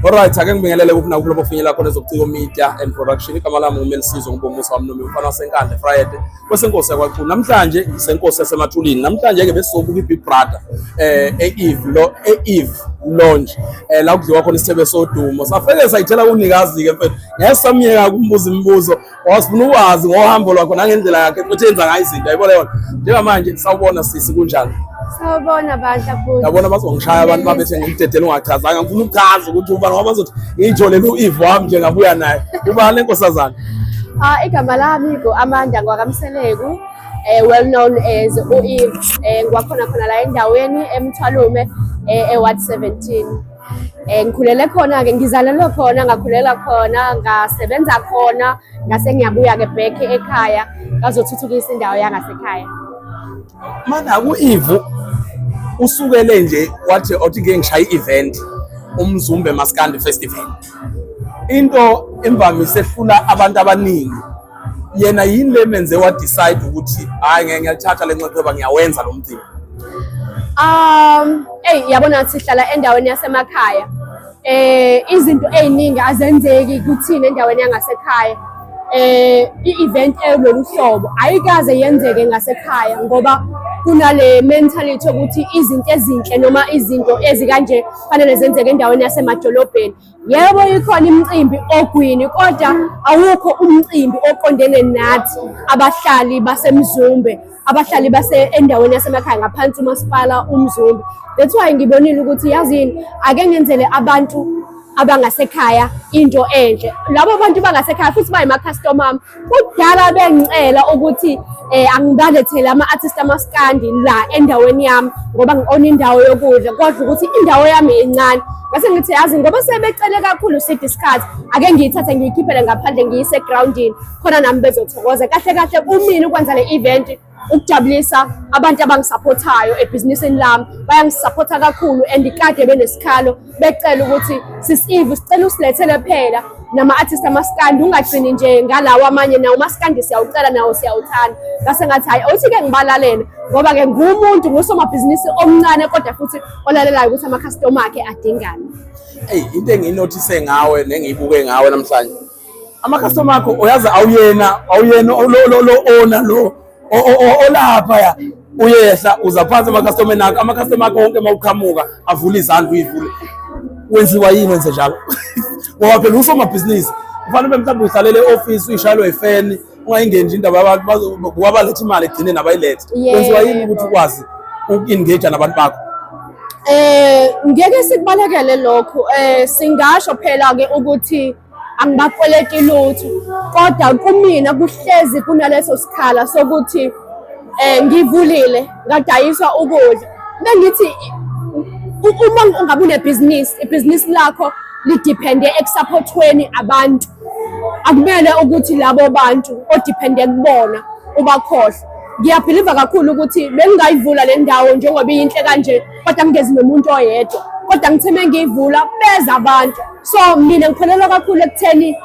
Alright, ake ngibingelele kuphi nakuphi lapho finyela khona ezobuciko media and production. Igama lami nguMelisizwe Ngubumusa wamnome umfana wasenkandla Friday. Kwesenkosi yakwaChunu. Namhlanje ngisenkosi yasemathulini. Namhlanje ke besizobuka iBig Brother eh eEve lo eEve Lounge. Eh la kudliwa khona isithebe sodumo. Safele sayithela kunikazi ke mfethu. Ngeke samyeka kumbuza imibuzo. wasifuna ukwazi ngohambo lwakho nangendlela yakhe futhi enza ngayo izinto yayibona yona njengamanje sawubona sisi kunjani sawubona bandla futhi yabona bazongishaya abantu babethe ngimdedela ungachazanga ngifuna ukuchaza ukuthi uba ngoba bazothi ngiyijolele u-eve wami nje ngabuya naye uba le nkosazana ah igama lami ku-amanda ngwakamseleku um eh, well known as u-eve um eh, ngwakhona khona la endaweni emthwalume um eh, eward seventeen Eh ngikhulele khona ke ngizalelwe khona ngakhulela khona ngasebenza khona ngase ngiyabuya ke back ekhaya ngazothuthukisa indawo yangasekhaya. Mana ku Ivu usukele nje wathi othi ke ngishaya i-event umzumbe maskandi festival into emvamise ehlula abantu abaningi yena yini le menze wa decide ukuthi hayi ngeke ngiyalithatha le nxepheba ngiyawenza lo mcimbi um eyi yabona sihlala endaweni yasemakhaya eh izinto eziningi azenzeki kuthina endaweni yangasekhaya eh i-event elolu hlobo ayikaze yenzeke ngasekhaya ngoba kunale mentality yokuthi izinto ezinhle noma izinto ezikanje fanele zenzeke endaweni yasemadolobheni Yebo ikhona imicimbi ogwini kodwa awukho umcimbi oqondene nathi abahlali baseMzumbe, abahlali base endaweni yasemakhaya ngaphansi umasipala uMzumbe. That's why ngibonile ukuthi yazini ake ngenzele abantu abangasekhaya into enhle. Labo bantu bangasekhaya futhi bayimakhastoma ami. Kudala bengicela ukuthi eh angibalethele ama-artist amaskandi la endaweni yami ngoba ngi-ona indawo yokudla kodwa ukuthi indawo yami incane ngase ngithi yazi ngoba sebecele kakhulu side isikhathi ake ngiyithathe ngiyikhiphele ngaphandle ngiyise egrawundini khona nami bezothokoza kahle kahle kumina ukwenza le event ukujabulisa abantu abangisaphothayo ebhizinisini lami bayangisaphotha kakhulu and kade benesikhalo becela ukuthi sisive sicela usilethele phela nama-artist amaskandi ungagcini nje ngalawo amanye nawo umaskandi siyawucela nawo siyawuthanda ngase ngathi hhayi awuthi-ke ngibalalele ngoba-ke ngumuntu ngusomabhizinisi omncane kodwa futhi olalelayo ukuthi amakhastoma akhe adingane eyi into engiyinothise ngawe nengiyibuke ngawe namhlanje amakhastomer akho uyazi awuyena awuyena lo owner lo olaphaya uyehla uza phansi amakhastomer nakho amakhastomer akho wonke uma uqhamuka avula izandla uyivule wenziwa yini wenze njalo ngoba phela usomabhizinisi kufanele ube mhlawumbe uhlalele e-ofisi uyishayelwa ifeni ungayingeni nje indaba yabantu babaletha imali egcine nabayilethe wenziwa yini ukuthi ukwazi uku-engage nabantu bakho eh ngeke sikubalekele lokho eh singasho phela ke ukuthi angibakweleti lutho kodwa kumina kuhlezi kunaleso sikhala sokuthi eh ngivulile ngadayiswa ukudla bengithi uma ungabe unebhizinisi ibhizinisi lakho lidepende ekusaphothweni abantu akumele ukuthi labo bantu odepende kubona ubakhohle ngiyabhiliva kakhulu ukuthi bengingayivula le ndawo njengoba iyinhle kanje kodwa ngingezi nomuntu oyedwa kodwa ngithe mengiyivula beza abantu so mina ngikholelwa kakhulu ekutheni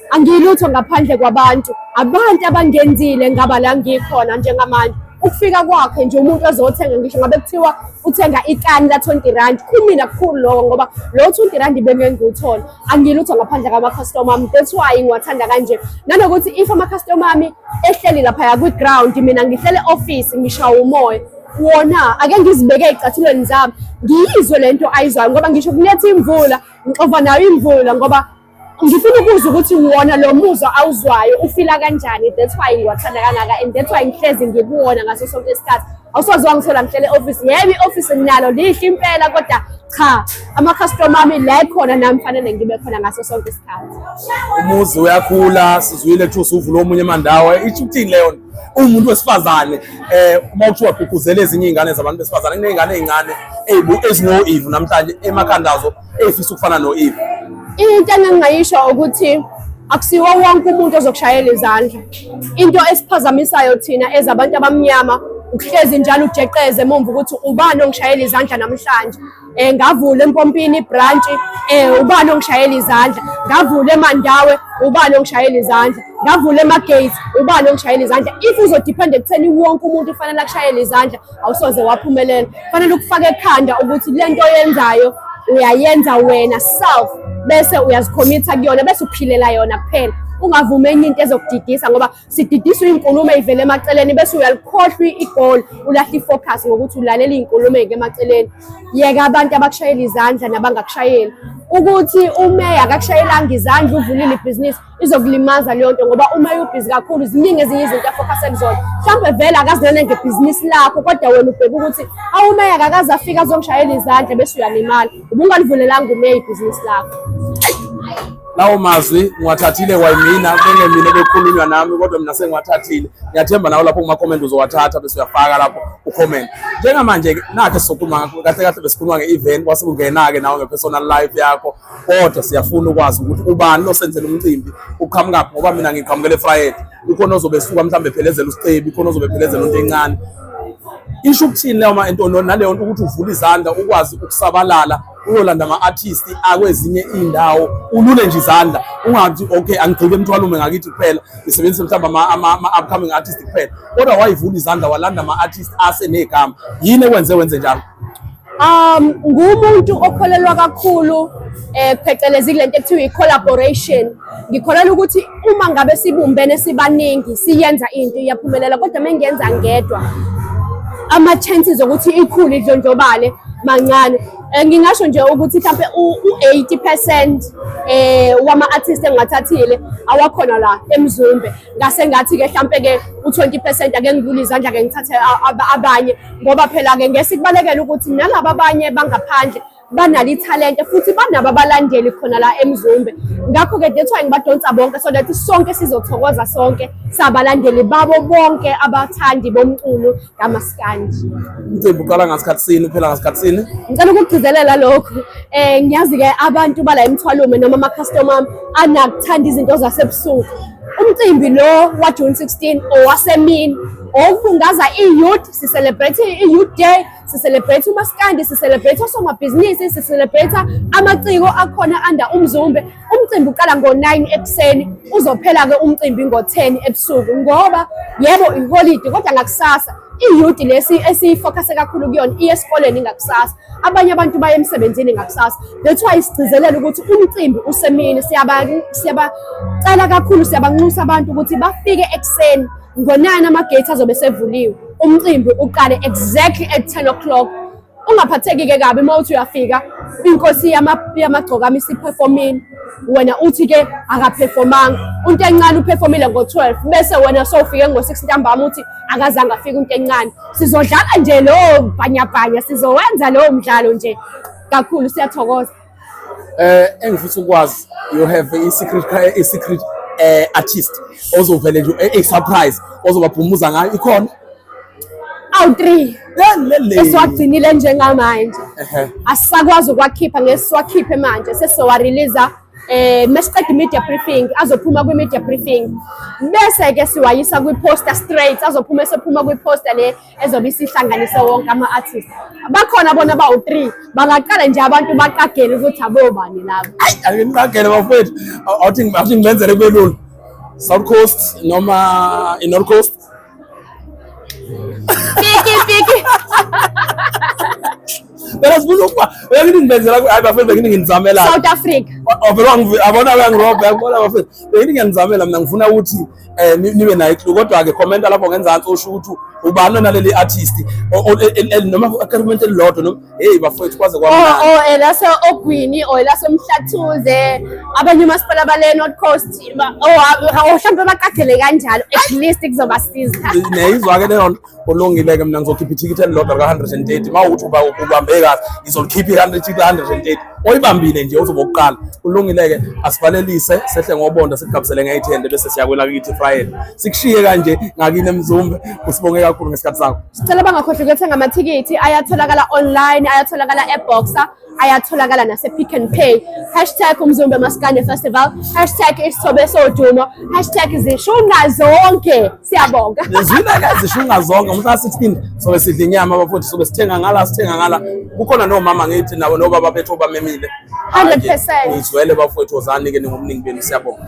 angiyilutho ngaphandle kwabantu abantu abangenzile ngaba la ngikhona njengamanje ukufika kwakhe nje umuntu ozothenga ngisho ngabe kuthiwa uthenga ikani la 20 rand kumina kukhulu lokho ngoba lo 20 rand bengeke ngiwuthole angilutho ngaphandle kama customer ami that's why ngiwathanda kanje nanokuthi if ama customer ami ehleli lapha ya kwi ground mina ngihlele office ngishawa umoya wona ake ngizibeke ey'cathulweni zami ngiyizwe le nto ayizwayo ngoba ngisho kunetha imvula ngixova nayo imvula ngoba ngifuna ukuzwa ukuthi wona lo muzwa awuzwayo ufila kanjani that's why ngiwathanda kangaka and that's why ngihlezi ngikuwona ngaso sonke isikhathi awusoze wangithola ngihlele ofisi yebo i-ofisi nginalo lihle impela kodwa cha amakhastoma ami la ekhona nami fanele ngibe khona ngaso sonke isikhathi umuzi uyakhula sizwile kuthiwa usuvula omunye emandawo isho ukuthini leyo nto umuntu wesifazane eh uma kuthiwa gqugquzela ezinye izingane zabantu besifazane kunezingane ezincane ezibu ezino Eve namhlanje emakhandazo ezifisa ukufana no Eve into engingayisho ukuthi akusiwo wonke umuntu ozokushayela izandla into esiphazamisayo thina ezabantu abamnyama ukuhlezi njalo ujeqeze emumva ukuthi ubani ongishayela izandla namhlanje eh ngavula empompini branch eh ubani ongishayela izandla ngavula emandawe ubani ongishayela izandla ngavula emagate ubani ongishayela izandla if uzodepend ekutheni wonke umuntu ufanele akushayele izandla awusoze waphumelela fanele ukufaka ekhanda ukuthi lento oyenzayo uyayenza wena self bese uyazikhomitha kuyona bese uphilela yona kuphela ungavumi enye into ezokudidisa ngoba sididiswa iy'nkulumo ey'vela emaceleni bese uyalikhohlwa igoli ulahla i-focus ngokuthi ulalela iy'nkulumo ey'ke emaceleni yeka abantu abakushayela izandla nabangakushayeli ukuthi umeya akakushayelanga izandla uvulile ibhizinisi izokulimaza leyo nto ngoba umeya ubhizi kakhulu ziningi ezinye izinto afokase kuzona mhlawumbe vele akazinene ngebhizinisi lakho kodwa wena ubheka ukuthi awumeya akakaze afike azongishayela izandla bese uyalimala Ubungalivulelanga umeya ibhizinisi lakho. Lawo mazwi ngiwathathile kwayimina bengemina ebekhulunywa nami kodwa mina sengiwathathile. Ngiyathemba nawe lapho kuma comment uzowathatha bese uyafaka lapho u comment. Njengamanje ke nakhe sokhuluma kahle kahle besikhuluma nge-event kwase kungena-ke nawe nge-personal life yakho kodwa siyafuna ukwazi ukuthi ubani losenzela umcimbi uqhamukaphi ngoba mina ngiqhamukele Friday. ukhona ozobe esuka mhlawumbe ephelezela usicebi khona ozobe ephelezela into encane isho ukuthini leyo ma entono naleyo nto ukuthi uvule izandla ukwazi ukusabalala uyolanda ama-artist akwezinye iy'ndawo ulule nje izandla ungathi okay angigcike emthwalume ngakithi kuphela ngisebenzise mhlawumbe ama-upcoming artist kuphela kodwa wayivula izandla walanda ama-artist asenegama yini ekwenze wenze njalo Um ngumuntu okholelwa kakhulu eh phecelezi kulento ekuthiwa i-collaboration. Ngikholelwa ukuthi uma ngabe sibumbene sibaningi siyenza into iyaphumelela kodwa mengiyenza ngedwa ama chances okuthi ikhule idlondlobale mancane eh, ngingasho nje ukuthi mhlawumbe u-80 percent um eh, wama-artist engiwathathile awakhona la emzumbe ngase ngathi-ke hlampe-ke u-twenty percent ake ngivule izandla-ke ngithathe abanye ngoba phela-ke ngese kubalekela ukuthi nalaba abanye bangaphandle banalo ithalente futhi banabo abalandeli khona la emzumbe ngakho-ke that's why ngibadonsa bonke so that sonke sizothokoza sonke sabalandeli babo bonke abathandi bomculo kamaskandi umcimbi uqala ngasikhathi sini uphela ngasikhathi sini ngicela ukugcizelela lokhu um eh, ngiyazi-ke abantu bala emthwalume noma ama-customer anakuthanda izinto zasebusuku Umcimbi lo waJune 16 owasemini owokubungaza i-youth, sicelebrate i-youth day, sicelebrate umaskandi, sicelebrate osomabhizinisi, sicelebrate amaciko akhona anda umzumbe. Umcimbi uqala ngo-9 ekuseni, uzophela-ke umcimbi ngo-10 ebusuku ngoba yebo iholidi kodwa ngakusasa iyudi lesi esiyifokase kakhulu kuyona iye esikoleni ngakusasa abanye abantu baye emsebenzini ngakusasa that's why sigcizelela ukuthi umcimbi usemini siyabacela kakhulu siyabanxusa abantu ukuthi bafike ekuseni ngonani amagate azobe sevuliwe umcimbi uqale exactly at 10 o'clock ungaphatheki-ke kabi uma uthi uyafika inkosi yamagcokama isiphefomile wena uthi-ke akaphefomanga unto encane uphefomile ngo-12 bese wena sowufike ngo-6 ntambama uthi akazange afike unto encane sizodlala nje lowo bhanyabhanya sizowenza lowo mdlalo nje kakhulu siyathokoza Eh engifisa ukwazi you have a secret a secret eh artist ozovele nje a surprise ozobabhumuza ngayo ikhona awu 3 esiwagcinile njengamanje asisakwazi ukwakhipha ngesiwakhiphe manje sesizowareleasa um eh, mesiqeda i-media briefing azophuma kwi-media briefing bese-ke siwayisa kwi-poster straight azophuma esephuma kwi-poster le ezobe isihlanganise wonke ama-artist bakhona bona bawu-three bangaqala nje abantu baqagele ukuthi abobani labo ayi angiqagele bafowethu awuthi awuthi ngibenzele kube lula south coast noma i-north coast piki piki phela sibuza ukuba bengithi ngibenzela hayi bafowethu bengithi nginizamela south africa Oh, vele wangivi- abona uyangirobha yangibona bafethu bengithi ngiyanizamela mina ngifuna ukuthi eh nibe nayo clue kodwa ke comment lapho ngenzansi usho ukuthi ubani naleli artist noma comment elilodwa noma hey bafowethu kwaze kwa oh oh elase eh, ogwini or oh, elase umhlathuze abanye umasipala bale north coast oh, oh hlambe baqagele kanjalo at least kuzobasiza neyizwa ke leyo nto Kulungile ke mina ngizokhipha ithikithi elilodwa lika-130 uma ukuthi uba ubambe kahle ngizolikhipha i-130 ka-130 oyibambile nje uzoba ukuqala kulungile-ke asivalelise sehle ngobonda sikugabisele ngeyithende bese siyakwela kithi ifrayeli sikushiye kanje ngakini emzumbe usibonge kakhulu ngesikhathi sakho sicela bangakhohlwa ukuyothenga amathikithi ayatholakala online ayatholakala eboxer ayatholakala nase-pick and pay hashtag umzumbe maskane festival hashtag isithobe sodumo hashtag zishunqa zonke siyabonga zina-ke zishunqa zonke umuntu asithini sobe sidla inyama bafowethu sobe sithenga ngala sithenga ngala kukhona nomama ngithi nabo nobaba bethu obamemile 100 ngizwele bafowethu ozani-ke ningomningi benu siyabonga